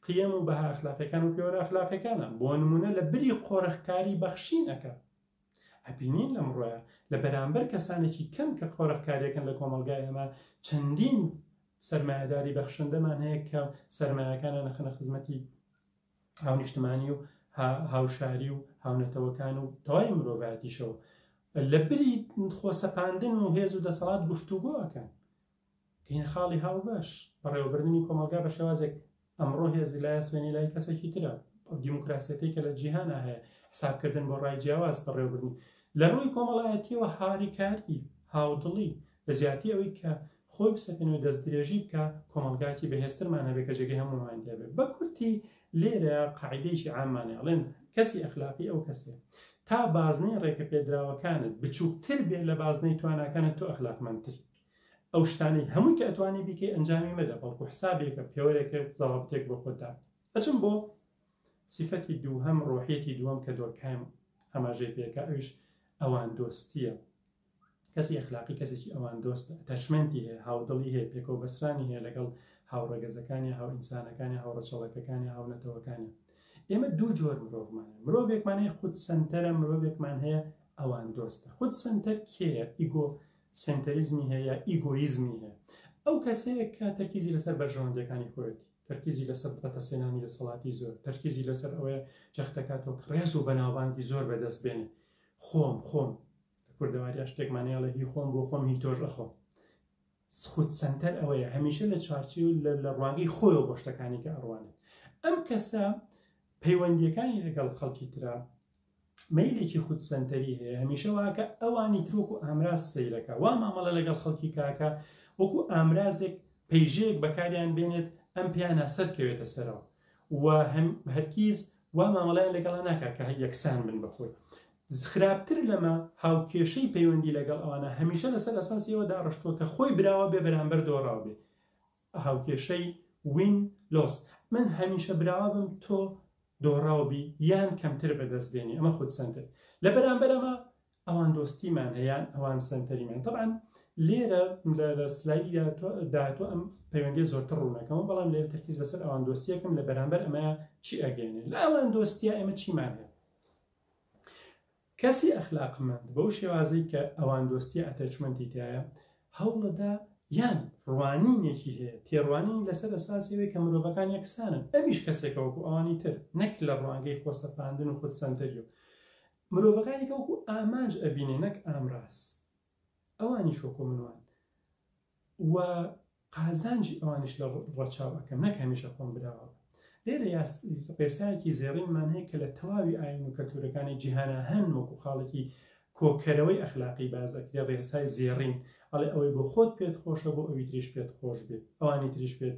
قیەم و بەها ئەخلاقیەکان و پێوەرە ئەخلاقیەکانا، بۆ نموونە لە بری قۆرخکاری بەخشین ئەکات. ئەبینین لەمڕۆیە لە بەرامبەر کەسانێکی کەم کە قۆرخکاریەکەن لە کۆمەڵگای ئێمە چەندین سەرمایەداری بەخشندەمان هەیە کە سەرمایەکانیان ئەخەنە خزمەتی هاونیشتمانی و هاوشاری و هاونەتەوەکان و تەواوی مرۆڤاتیشەوە لە بری خۆسەپاندن و هێز و دەسەڵات گفتوگۆ ئەەکەن کەینە خاڵی هاو بەش بەڕێوەبردننی کۆمەلگا بە شێوازێک ئەمڕۆ هێزی لایە سوێنی لای کەسێکی ترە دیموکراسەتی کە لە جیهانە هەیە حسابکردن بۆ ڕای جیاواز بەڕێوەبرنی لە ڕووی کۆمەڵایەتیەوە هاریکاری هاودڵی لە زیاتی ئەوەی کە خۆی بسەپێنێ و دەست درێژی بکا کۆمەڵگایەکی بەهێزترمان هەبێ کە جێگەی هەموومان تێ بێ بە کورتی لێرە قاعیدەیەکی عامان هەیە ئەڵێن کەسی ئەخلاقی ئەو کەسێ تا بازنەی ڕێکە پێدراوەکانت بچووکتر بێ لە بازنەی تواناکانت تۆ ئەخلاقمەندتری ئەو شتانەی هەمووی کە ئەتوانی بیکەی ئەنجامی مەدە بەڵکو حسابێکە پێوەرێکە زەڵابتێک بۆ خۆتدا ئەچم بۆ سیفەتی دووهەم ڕۆحێتی دووەم کە دۆرکایم ئاماژەی پێکە ئەوش ئەوان دۆستیە کەسی ئەخلاقی کەسێکی ئەوان دۆستە تەشمەنتی هەیە هاودڵی هەیە پێکەوە بەسرانی هەیە لەگەڵ هاوڕەگەزەکانی هاو ئینسانەکانی هاوڕەچەڵەکەکانی هاونەتەوەکانی ئێمە دوو جۆر مرۆڤمان مرۆڤێکمانەیە خود سنتەرە مرۆڤێکمان هەیە ئەوان دۆستە خود سنتەر کێە ئیگۆ سنتەریزمی هەیە ئیگۆیزمی هەیە ئەو کەسەیە کە تەرکیزی لەسەر بەرژەوەندەکانی خۆێتی تەرکیزی لەسەر بەتەسێنانی لە سەڵاتی زۆر تەرکیزی لەسەر ئەوەیە جەختەکاتەوە کڕێز و بەناوبانگی زۆر بەدەست بێنێ خۆم خۆم لە کوردەوارییە شتێکمان هەیە ئەڵێ هی خۆم بۆ خۆم هی تۆش ئەخۆم خود سەنتەر ئەوەیە هەمیشە لە چارچی و لە ڕوانگەی خۆی و بۆ شتەکانی کە ئەڕوانێت ئەم کەسە پەیوەندیەکانی لەگەڵ خەڵکی تررا مەیلێکی خود سنتەری هەیە هەمیشە واکە ئەوانی ترۆک و ئامراز سیرەکە وا مامەڵە لەگەڵ خەڵکی کاکە وەکو ئامرازێک پەیژەیەک بەکاریان بێنێت ئەم پیانە سەرکەوێتە سەرەوە و هەرکیز وا مامەڵیان لەگەڵا ناکات کە یەکسان بن بەخۆی خراپتر لەمە هاوکێشەی پەیوەندی لەگەڵ ئەوانە هەمیشە لەسەر ئەساسی ئەوە داڕشتووە کە خۆی براوە بێ بەرامبەر دۆڕاو بێ هاوکێشەی وین لۆس من هەمیشە براوە بم تۆ دۆڕاو بی یان کەمتر بەدەست بێنی ئەمە خود سنتر لە بەرامبەر ئەمە ئەوان دۆستیمان هەیەیان ئەوان سنتەریمان طبعا لێرە لە سلایی داهاتوە ئەم پەیوەندی زۆرتر ڕوونەکەەوە بەڵام لێر تەکیز لەسەر ئەوان دۆستیەکەم لە بەرامبەر ئەمە چی ئەگەێنێ لە ئەوان دۆستیا ئێمە چیمان هەیە کەسی ئەخلاقمەند بەو شێوازەی کە ئەوان دۆستی ئەتەچمەنتی تایە هەوڵەدا یان ڕوانینێکی هەیە تێڕوانین لەسەر ئەساسەوەی کە مرۆڤەکان یەکسانن ئەمیش کەسێکە وەکو ئەوانی تر نەک لە ڕوانگەی خۆسەپاندن و خود سەنتەری و مرۆڤەکانی کە وەکو ئامانج ئەبینێ نەک ئامراز ئەوانیش وەکو من وان و قازانجی ئەوانیش لە ڕەچاو ئەکەم نەک هەمیشە خۆم براوە لێرە ڕێسایەکی زێڕینمان هەیە کە لە تەواوی ئاین و کەلتورەکانی جیهانە هەن وەکو خاڵێکی کۆکەرەوەی ئەخلاقی بازەکرێ ڕێسای زێڕین ئەڵێ ئەوەی بۆ خۆت پێت خۆشە بۆ ئەوی تریش پێت خۆش بێت ئەوانی تریش پێت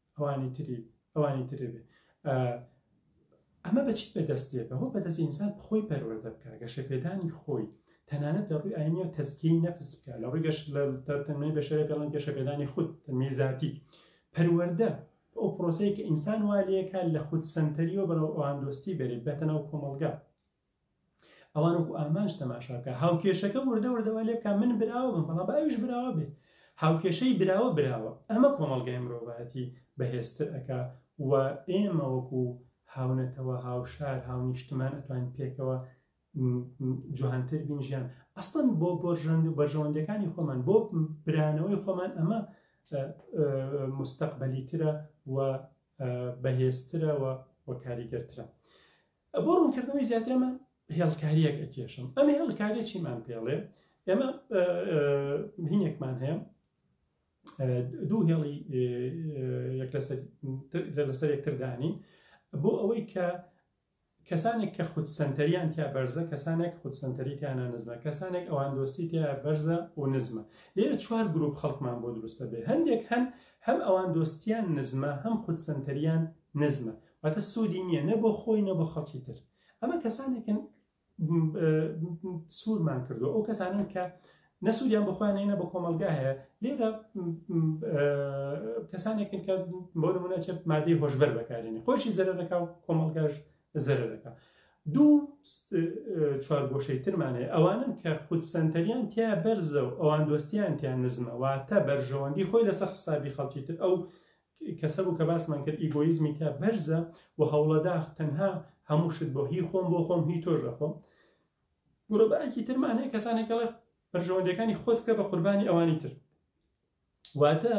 ئەوانی تری ئەوانی ترێ بێ ئەمە بەچی بەدەست دێت بەهۆ بەدەست ئینسان خۆی پەروەردە بکە گەشە پێدانی خۆی تەنانەت لە ڕووی ئاینی و تەزکی نەفس بکە لە ڕووی گەش لە تەنمەی بەشەرە پێڵن گەشە پێدانی خود تەنمەی زیاتی پەروەردە ئەو پرۆسەیە کە ئینسان والەکە لە خود سنتەریەوە بەرەوەوان دۆستی بێت بەتەنەو کۆمەلگا ئەوان وەکو ئامانج تەماشاکە هاوکێشەکە وردە وردەوە لێ بکە من براوە بم بەڵام باویش براوە بێت هاوکێشەی براوە براوە ئەمە کۆمەڵگای مرۆڤایەتی بەهێزتر ئەک و ئێمە وەکو هاونەتەوە هاوشار هاونیشتمان ئەتوان پێکەوە جوانتر بین ژیان ئەستن بۆ بۆژەند و بەژەوەندەکانی خۆمان بۆ برانەوەی خۆمان ئەمە مستەقبلی ترە و بەهێزترەوە و کاریگەرترە بۆ ڕوونکردنەوەی زیاترمە هێڵکاریەک ئەکێشم ئەم هێڵکاریە چیمان پێڵێ ئێمە هینێکمان هەیە دوو هێڵی لەسەر یەکتردانی بۆ ئەوەی کە کەسانێک کە خود سنتەریان تیا بەرزە کەسانێک خود سنتەری تیانە نزمە کەسانێک ئەوان دۆستی تیا بەرزە و نزمە لێرە چوار گروپ خەڵکمان بۆ دروستە بێ هەندێک هەن هەم ئەوان دۆستیان نزمە هەم خود سنتەریان نزمە واتە سوودی نییە نە بۆ خۆی نە بۆ خەڵکی تر ئەمە کەسانێکن سوورمان کردو ئەو کەسانن کە نەسوودیان بخوایان هێنە بە کۆمەلگا هەیە لێرە کەسانێکن کە بۆ نمونە چێت مادەی هۆشبەر بەکارێنی خۆشی زەرە دەکا و کۆمەلگاش زەرە دەکا دوو چوار گۆشەی ترمانێ ئەوانن کە خود سنتەریان تیا بەرزە و ئەوان دۆستیان تیان نزمە واتە بەرژەوەندی خۆی لەسەر حسابی خەڵکی تر ئەو کەسە بوو کە باسمان کرد ئیگۆیزمی تیا بەرزە و هەوڵە داخ تەنها هەموو شت بۆ هی خۆم بۆ خۆم هی تۆش دەخۆم گرۆبایەکی ترمان هەیە کەسانێک کەڵێ بەرژەوەندەکانی خۆت بکە بە قوربانی ئەوانی تر واتە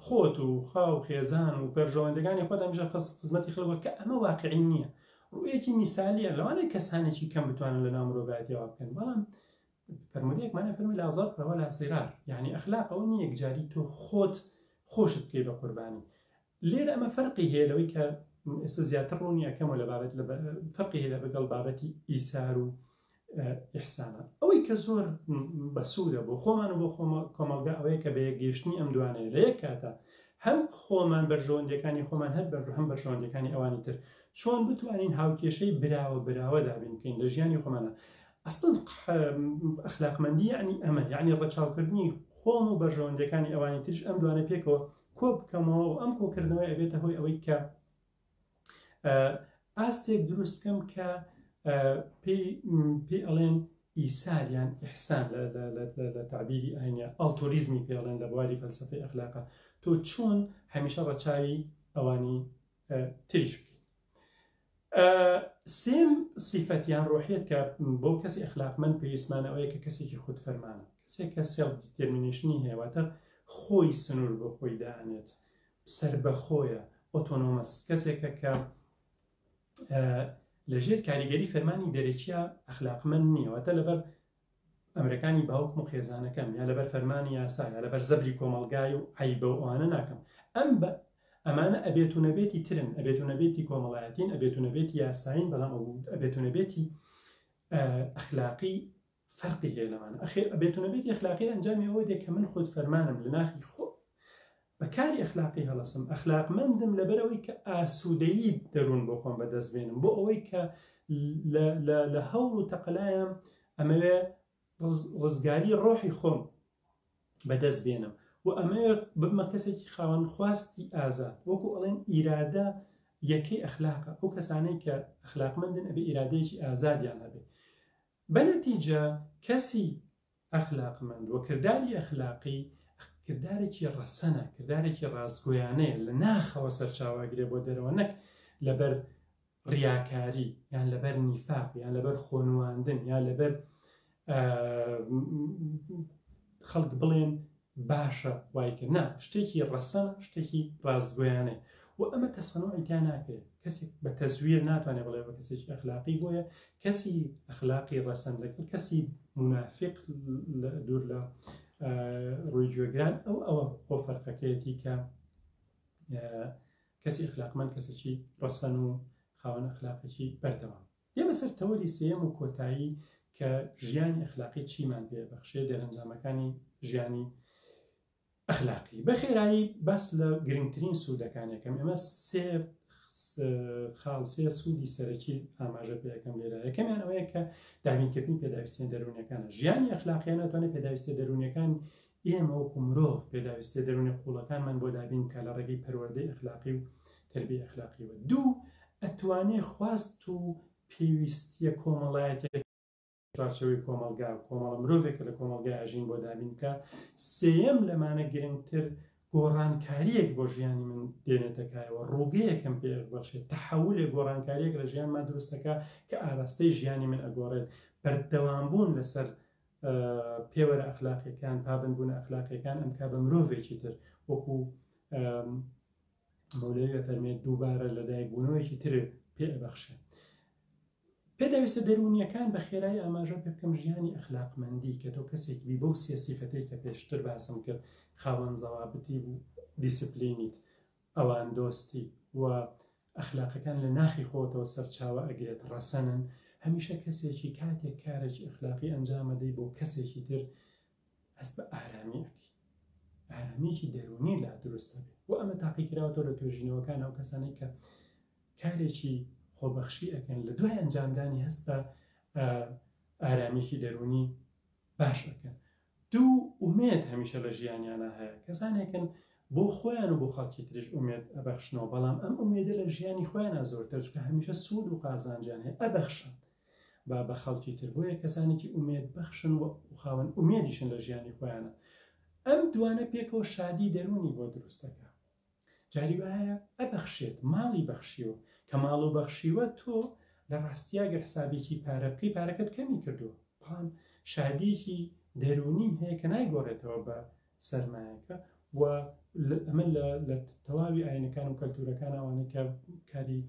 خۆت و خاو خێزان و پەرژەوەندەکانی خۆت هەمیشە خزمەتی خلوە کە ئەمە واقعی نییە ڕویەکی میسالیە لەوانەیە کەسانێکی کەم بتوانن لە نامرۆڤاتیەوە بکەن بەڵام فەرموودەیەک مانای فەرمی لا ضرر ولا ضرار یعنی ئەخلاق ئەوە نییە یەکجاری تۆ خۆت خۆشت بکەی بە قوربانی لێرە ئەمە فەرقی هەیە لەوەی کە ئێستا زیاتر ڕوونی یەکەمە لە بابەت لە فەرقی هەیە بەگەڵ بابەتی ئیسار و ئیحسانە ئەوەی کە زۆر بەسوودە بۆ خۆمان و بۆ خۆمە کۆمەڵگا ئەوەیە کە بە یەکگەیشتنی ئەم دوانەیە لە یەک کاتە هەم خۆمان بەرژەوەندەکانی خۆمان هەر بەر هەم بەرژەوەندەکانی ئەوانی تر چۆن بتوانین هاوکێشەی براوە براوە دابین بکەین لە ژیانی خۆمانە ئەسڵەن ئەخلاقمەندی یەعنی ئەمە، یەعنی ڕەچاوکردنی خۆم و بەرژەوەندییەکانی ئەوانی تریش، ئەم دوانە پێکەوە کۆ بکەمەوە و ئەم کۆکردنەوەی ئەبێتە هۆی ئەوەی کە ئاستێک دروست بکەم کە پێی ئەڵێن ئیسار یان ئحسان لە تعبیری ئاینە ئەڵتۆریزمی پێڵێن لە بواری فەلسفەی ئەخلاقە تۆ چۆن هەمیشە ڕەچاوی ئەوانی تریش بکەین سێم سیفەتیان ڕۆحیت کە بۆ کەسی ئەخلاقمەند پێویستمانەوەیە کە کەسێکی خود فەرمانە کەسێک کە سێڵ دیتێرمینیشنی هەیەواتە خۆی سنوور بۆ خۆی دانێت سەر بەخۆیە ئۆتۆنۆمەس کەسێکە کە لەژێر کاریگەری فەرمانی دەرەکیە ئەخلاقمەند نییەوەتە لەبەر ئەمرەکانی باوکم و خێزانەکەم یا لەبەر فەرمانی یاسا یا لەبەر زەبری کۆمەڵگای و عیبە و ئەوانە ناکەم ئەم بە ئەمانە ئەبێت و نەبێتی ترن ئەبێت و نەبێتی کۆمەڵایەتین ئەبێت و نەبێتی یاساین بەڵام ئەبێت و نەبێتی ئەخلاقی فەرقی هەیە لەمانە ئەخێ ئەبێت و نەبێتی ئەخلاقی ئەنجامی ئەوە دێ کە من خۆت فەرمانم لە ناخی خۆ بە کاری ئەخلاقی هەڵەسم، ئەخلاقمەندم لەبەرئەوەی کە ئاسوودەیی دەروون بۆ خۆم بەدەست بێنم، بۆ ئەوەی کە لە هەوڵ و تەقەلایام ئەمەوێ ڕزگاری ڕۆحی خۆم بەدەست بێنم و ئەمەوێ ببمە کەسێکی خاوەن خواستی ئازاد وەکو ئەڵێن ئیرادە یەکەی ئەخلاقە ئەو کەسانەی کە ئەخلاقمەندن ئەبێ ئیرادەیەکی ئازادیان هەبێ بەنەتیجە کەسی ئەخلاقمەند و کرداری ئەخلاقی کردارێکی ڕەسەنە، کردارێکی ڕاستگۆیانەیە، لە ناخەوە سەرچاوە ئەگرێ بۆ دەرەوە نەک لەبەر ڕیاکاری یان لەبەر نیفاق یان لەبەر خۆنواندن یان لەبەر خەڵک بڵێن باشە وایکە نا شتێکی ڕەسەنە شتێکی ڕاستگۆیانەیە و ئەمە تەسەنۆعی تیا ناکرێت کەسێک بە تەزویر ناتوانێت بڵێ بە کەسێکی ئەخلاقی بۆیە کەسی ئەخلاقی ڕەسەن لەگەڵ کەسی منافق دوور لە ڕووی گوێگران ئەو ئەوە بۆ فەرقەکەیەتی کە کەسی ئەخلاقمەند کەسێکی ڕەسەن و خاوەن ئەخلاقێکی بەردەوام دێمە سەر تەوەری سێیەم و کۆتایی کە ژیانی ئەخلاقی چیمان پێ بەخشێ دەرەنجامەکانی ژیانی ئەخلاقی بەخێرایی باس لە گرنگترین سوودەکانەکەم ئەمە سێ خاڵسێ سوودی سەرەکی ئاماژە پێەکەم لێرە یەکەمیان ئەوەیە کە دامینکردنی پێداویستیان دەروونەکانە ژیانی ئەخلاقیان ناتوانێت پێداویستە دەروونەکان ئێمە وەکو مرۆڤ پێداویستیە دەرونیە قوڵەکانمان بۆ دابین بکات لە ڕێگەی پەروەردەی ئەخلاقی و تەربیە ئەخلاقیەوە دوو ئەتوانێ خواست و پێویستیە کۆمەڵایەتیە چوارچەوەی کۆمەلگا و کۆمەڵە مرۆڤێکە لە کۆمەلگای ئەژین بۆ دابین بکە سێەم لەمانە گرنگتر گۆڕانکاریەک بۆ ژیانی من دێنێتەکایەوە ڕووگەیەکەم پێ بەخشێت تەحولێک گۆڕانکاریەک لە ژیانمان دروستەکە کە ئاراستەی ژیانی من ئەگۆڕێت بەردەوام بوون لەسەر پێوەرە ئەخلاقیەکان پابند بوونە ئەخلاقیەکان ئەمکا بە مرۆڤێکی تر وەکو مەولەوێ فەرمێت دووبارە لەدایک بوونەوەیکی تر پێ بەخشێت پێداویستە دەروونیەکان بە خێرای ئاماژە پێ بکەم ژیانی ئەخلاقمەندی کە تۆ کەسێکی بەو سێ سیفەتەی کە پێشتر باسم کرد خاوەن زەوابتی بوو دیسپلینیت ئەوان دۆستی و ئەخلاقەکان لە ناخی خۆتەوە سەرچاوە ئەگرێت ڕەسەنن، هەمیشە کەسێکی کاتێک کارێکی ئەخلاقی ئەنجام ئەدەی بۆ کەسێکی تر هەست بە ئارامی ئەکی ئارامیکی دەرونی لا دروست دەبێت و ئەمە تاقیکراوەوە لە توێژینەوەکان ئەو کەسانی کە کارێکی خۆبەخشی ئەەکەن لە دوای ئەنجامدانی هەست بە ئارامیکی دەرونی باش ئەەکەن دوو، ئومێد هەمیشە لە ژیانیانا هەیە، کەسانێکن بۆ خۆیان و بۆ خەڵکی تریش ئومێد ئەبەخشنەوە، بەڵام ئەم ئومێدە لە ژیانی خۆیانا زۆرترە، چونکە هەمیشە سوود و قازانجیان هەیە، ئەبەخشن بە بە خەڵکی تر، بۆیە کەسانێکی ئومێد بەخشن و خاوەن ئومێدیشن لە ژیانی خۆیانا، ئەم دووانە پێکەوە شادی دەروونی بۆ دروست دەکا. جاری وایە ئەبەخشێت ماڵی بەخشیوە کە ماڵو بەخشیوە تۆ لە ڕاستیا گەر حسابێکی پارە بکەی پارەکەت کەمی کردوە بەڵام شادیەکی دەرونی هەیە کە نایگۆڕێتەوە بە سەرمایەکە و ئەمە لە تەواوی ئاینەکان و کەلتورەکان ئەوانەی کە کاری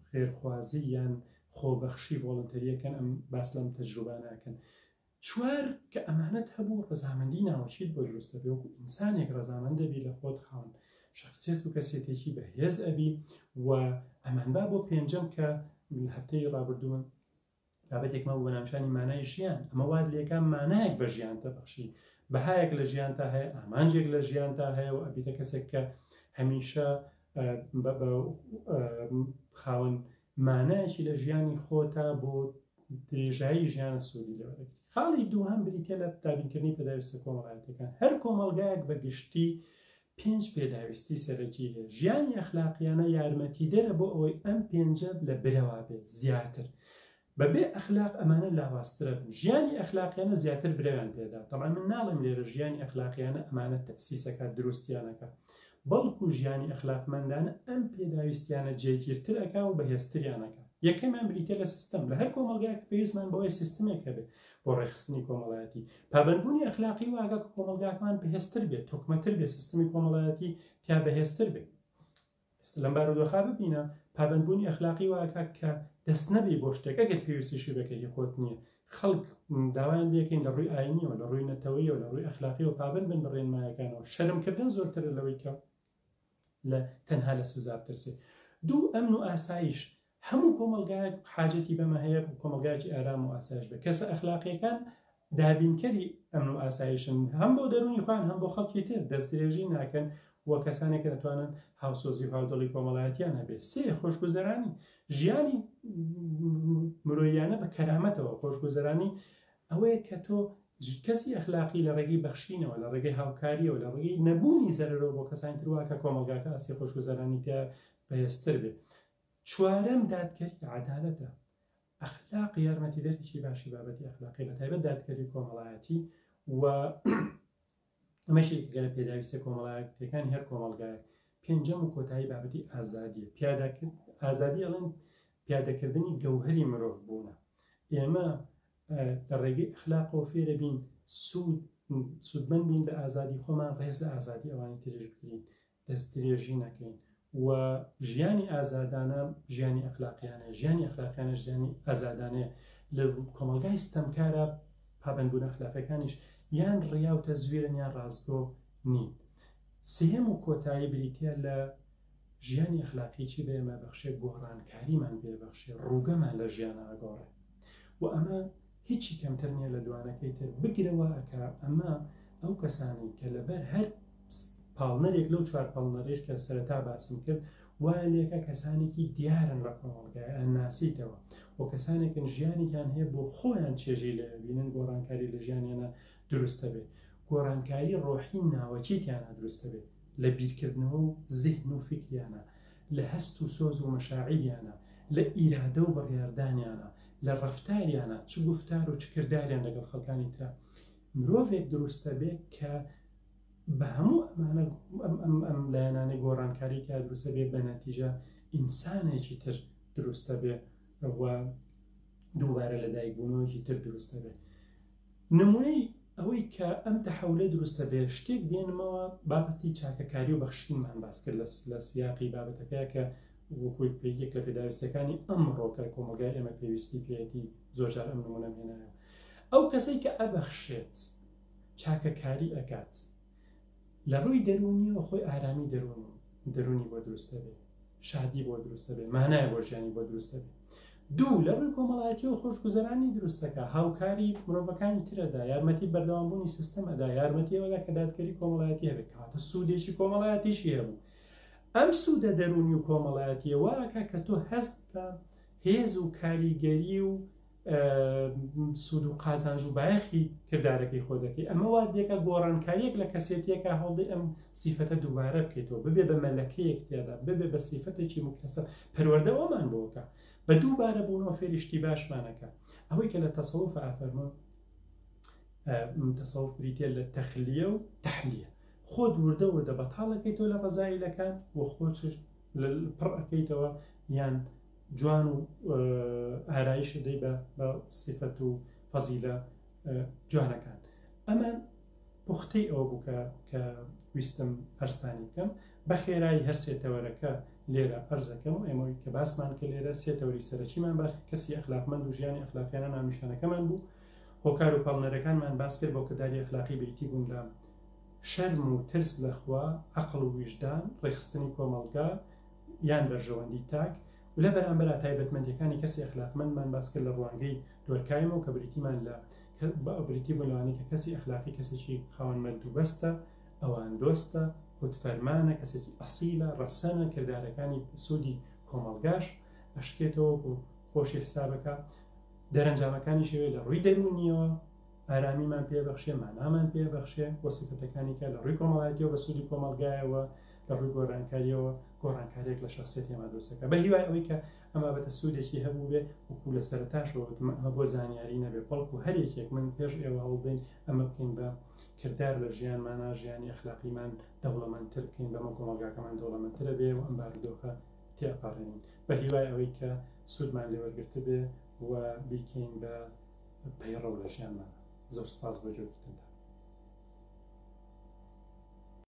خێرخوازی یان خۆبەخشی ڤۆڵنتەریەکەن ئەم باس لەم تەجروبانەکەن چوار، کە ئەمانەت هەبوو ڕەزامەندی ناوەکیت بۆ دروست ئەبێ وەکو ئینسانێک ڕەزامەند دەبی لە خۆت خاوەن شەخسیەت و کەسێتێکی بە هێز ئەبی و ئەمان با بۆ پێنجەم کە لە هەفتەی ڕابردوون بابەتێک مە بۆ ناوچانی مانای ژیان ئەمە واد لێکان مانایەک بە ژیان دەبەخشی بەهایەک لە ژیان تا هەیە ئامانجێک لە ژیان تا هەیە و ئەبیتە کەسێک کە هەمیشە خاوەن مانایەکی لە ژیانی خۆتا بۆ درێژایی ژیانە سوودی لێوە دەگری خاڵی دووهەم بریتە لە دابینکردنی پێداویستە کۆمەڵایەتەکان هەر کۆمەلگایەک بە گشتی پێنج پێداویستی سەرەکی هەیە ژیانی ئەخلاقیانە یارمەتی دەرە بۆ ئەوەی ئەم پێنجە لە برەوا بێت زیاتر بەبێ ئەخلاق ئەمانە لاواسترە بن ژیانی ئەخلاقیانە زیاتر برەویان پێدا تەمان من ناڵێم لێرە ژیانی ئەخلاقیانە ئەمانە تەسیسەکە دروستیانەکە بەڵکو ژیانی ئەخلاقمەندانە ئەم پێداویستیانە جێگیرتر ئەکا و بەهێزتریان ئەکا. یەکەمیان بریتیە لە سیستم، لە هەر کۆمەڵگایەک پێویستمان بەوەیە سیستمێک هەبێ بۆ ڕێکخستنی کۆمەڵایەتی. پابەندبوونی ئەخلاقی وا ئەکا کە کۆمەڵگاکەمان بەهێزتر بێ، تۆکمەتر بێ، سیستمی کۆمەڵایەتی تیا بەهێزتر بێ. ئێستا لەم بارودۆخە ببینە، پابەندبوونی ئەخلاقی وا ئەکا کە دەست نەبەی بۆ شتێک، ئەگەر پێویستیشی بێ کە هی خۆت نییە، خەڵک داوایان لێکەین لە ڕووی ئاینیەوە لە ڕووی نەتەوەیەوە لە ڕووی ئەخلاقیەوە پابند بن بە ڕێنمایەکانەوە شەرمکردن زۆرترە لەوەی کە لە تەنها لە سزا بترسێت دوو ئەمن و ئاسایش هەموو کۆمەلگایەک حاجەتی بەمە هەیە کۆمەلگایکی ئارام و ئاسایش بە کەسە ئەخلاقیەکان دابینکەری ئەمن و ئاسایشن هەم بۆ دەرونی خوان هەم بۆ خەڵکی تر دەستێژی ناکەن و کەسانێک دەتوانن هاوسۆزی و هاودڵی کۆمەڵایەتیان هەبێت سێ خۆشگوزەرانی ژیانی مرۆییانە بە کەرامەتەوە، خۆشگوزەرانی ئەوەیە کە تۆ کەسی ئەخلاقی لە ڕێگەی بەخشینەوە، لە ڕێگەی هاوکارییەوە، لە ڕێگەی نەبوونی زەرەرەوە بۆ کەسانی تر وا کە کۆمەڵگاکە ئاستی خۆشگوزەرانی تیا بەهێزتر بێت. چوارەم، دادگەری عەدالەتە. ئەخلاق یارمەتیدەرێکی باشی بابەتی ئەخلاقییە، بەتایبەت دادگەری کۆمەڵایەتی و ئەمەش یەکێکە لە پێداویستە کۆمەڵایەتیەکان هەر کۆمەڵگایە پێنجەم و کۆتایی بابەتی ئازادیە پیاداکرد ئازادی ئەڵێن پیادەکردنی گەوهری مرۆڤ بوونە ئێمە لە ڕێگەی ئەخلاقەوە فێرە بین سوود سوودمەند بین بە ئازادی خۆمان ڕێز لە ئازادی ئەوانی ترش بگرین دەستدرێژی نەکەین و ژیانی ئازادانە ژیانی ئەخلاقیانە ژیانی ئەخلاقیانە ژیانی ئازادانەیە لە کۆمەلگای ستەمکارە پابندبوون ئەخلاقەکانیش یان ڕیا و تەزویرن یان ڕاستگۆ نین سێم و کۆتایی بریتە لە ژیانی ئەخلاقیی بێمە بەخشێ گۆڕانکاریمان بێبەخشێ ڕووگەمان لە ژیان ئاگۆڕێ و ئەمە هیچی کەمتر نیە لە دوانەکەی تر بگرە وا ئەکا ئەمە ئەو کەسانەی کە لەبەر هەر پاڵنەرێک لەو چوار پاڵنەرێش کە سەرەتا باسم کرد وایە لێکە کەسانێکی دیارن لە کۆمەڵگای ئەن ناسیتەوە و کەسانێکن ژیانێکیان هەیە بۆ خۆیان چێژی لە بینن گۆڕانکاری لە ژیانیانە دروستە بێت گۆڕانکاری ڕۆحی ناوەچیتیانە دروستە بێت لە بیرکردنەوە و زیهن و فکریانە لە هەست و سۆز و مەشاعیریانە، لە ئیرادە و بڕیاردانیانە، لە ڕەفتاریانە، چ گوفتار و چ کرداریان لەگەڵ خەڵکانی ترە. مرۆڤێک دروستە بێ کە بە هەموو ئەمانە، ئەم لایەنانەی گۆڕانکاری تیا دروستە بێ، بە نەتیجە ئینسانێکی تر دروستە بێ و دووبارە لەدایکبوونەوەیەکی تر دروستە بێ. نمونەی ئەوەی کە ئەم تەحولە دروستە بێ شتێک دێنمەوە بابەتی چاکەکاری و بەخشینمان باس کرد لە سیاقی بابەتەکە کە وەکو یەک لە پێداویستیەکانی ئەمڕۆ کە کۆمەڵگای ئێمە پێویستی پێیەتی زۆرجار ئەم نمونەم هێنایە ئەو کەسەی کە ئەبەخشێت چاکەکاری ئەکات لە ڕووی دەروونیەوە خۆی ئارامی دەروونی دەروونی بۆ دروست دەبێ شادی بۆ دروست دەبێ مانایە بۆ ژیانی بۆ دروست دەبێ دوو لە ڕووی کۆمەڵایەتیەوە خۆشگوزەرانی دروستەکە هاوکاری مرۆڤەکانی ترەدا یارمەتی بەردەوامبوونی سیستم ئەدا یارمەتی ئەوەدا کە دادگەری کۆمەڵایەتی هەبێت کاتە سوودێکی کۆمەڵایەتیشی هەبوو ئەم سوودە دەروونی و کۆمەڵایەتیەوەکە کە تۆ هەست بە هێز و کاریگەری و سوود و قازانج و بایەخی کردارەکەی خۆ دەکەی ئەمە وا دێکە گۆڕانکاریەک لە کەسێتیەکە هەڵدەی ئەم سیفەتە دووبارە بکەیتەوە ببێ بە مەلەکەیەک تێدا ببێ بە سیفەتێکی مکتەسە پەروەەردە ئەومان بۆکە بە دووبارە بوونەوە فێریشتی باشمانەکە ئەوەی کە لە تەسەوف ئافەرمۆ تەسەوف بریتە لە تەخلیە و تحلیە خۆت وردە وردە بەتاڵەکەی تۆ لە ڕزایلەکان و خۆچش لل پڕ ئەکەیتەوە یان جوان و ئارایش ئەدەی بە بە سیفەت و فەزیلە جوانەکان ئەمە پوختەی ئەوە بوو کە کە ویستم ئەرستانی بکەم بە خێرایی هەر سێتەوەرەکە لێرە ئەرزەکەم و ئێمەوەی کە باسمان کە لێرە سێتەوەری سەرەکیمان باش کەسی ئەخلاقمەند و ژیانی ئەخلاقیانە ناونیشانەکەمان بوو هۆکار و پاڵنەرەکانمان باس کرد بۆ کردداری ئەخلاقی بیتی بوون لە شەرم و ترس لە خوا، عەقڵ و ویژدان، ڕێکخستنی کۆمەڵگا یان بەرژەوەندی تاک، و لە بەرامبەرا تایبەتمەندییەکانی کەسی ئەخلاقمەندمان باس کرد لە ڕوانگەی دۆرکایمەوە کە بریتیمان لە بریتی بوون لەوانەی کە کەسی ئەخلاقی کەسێکی خاوەن مەردوبەستە، ئەواندۆستە، خودفەرمانە، کەسێکی ئەسیلە، ڕەسەنە، کردارەکانی بە سوودی کۆمەڵگاش ئەشکێتەوە و خۆشی حسابەکا، دەرەنجامەکانیشی لە ڕووی دەروونییەوە، ئارامیمان پێ بەخشێ مانامان پێ بەخشێ و سفەتەکانی کە لە ڕووی کۆمەڵایەتیەوە بە سوودی کۆمەلگایەوە لە ڕووی گۆرانکاریەوە گۆڕانکارێک لە شخصێتێمە دۆسەکە بە هیوای ئەوەی کە ئەمە بەتە سوودێکی هەبوو بێ وکو لە سەرتاشەوەتمە ئەمە بۆ زانیاری نەبێ بەڵکو هەر یەکێک من پێش ئێوە هەوڵبین ئەمە بکەین بە کردار لە ژیانمانە ژیانی ئەخلاقیمان دەوڵەمەندتر بکەین بەمە کۆمەلگاکەمان دەوڵەمەندترە بێ و ئەم بارودۆخە تێپەڕێنین بە هیوای ئەوەی کە سوودمان لێوەرگرتبێ و بیکەین بە پەیڕەو لە ژیانمانە. زۆر سپاس بۆ جۆگیتنتان.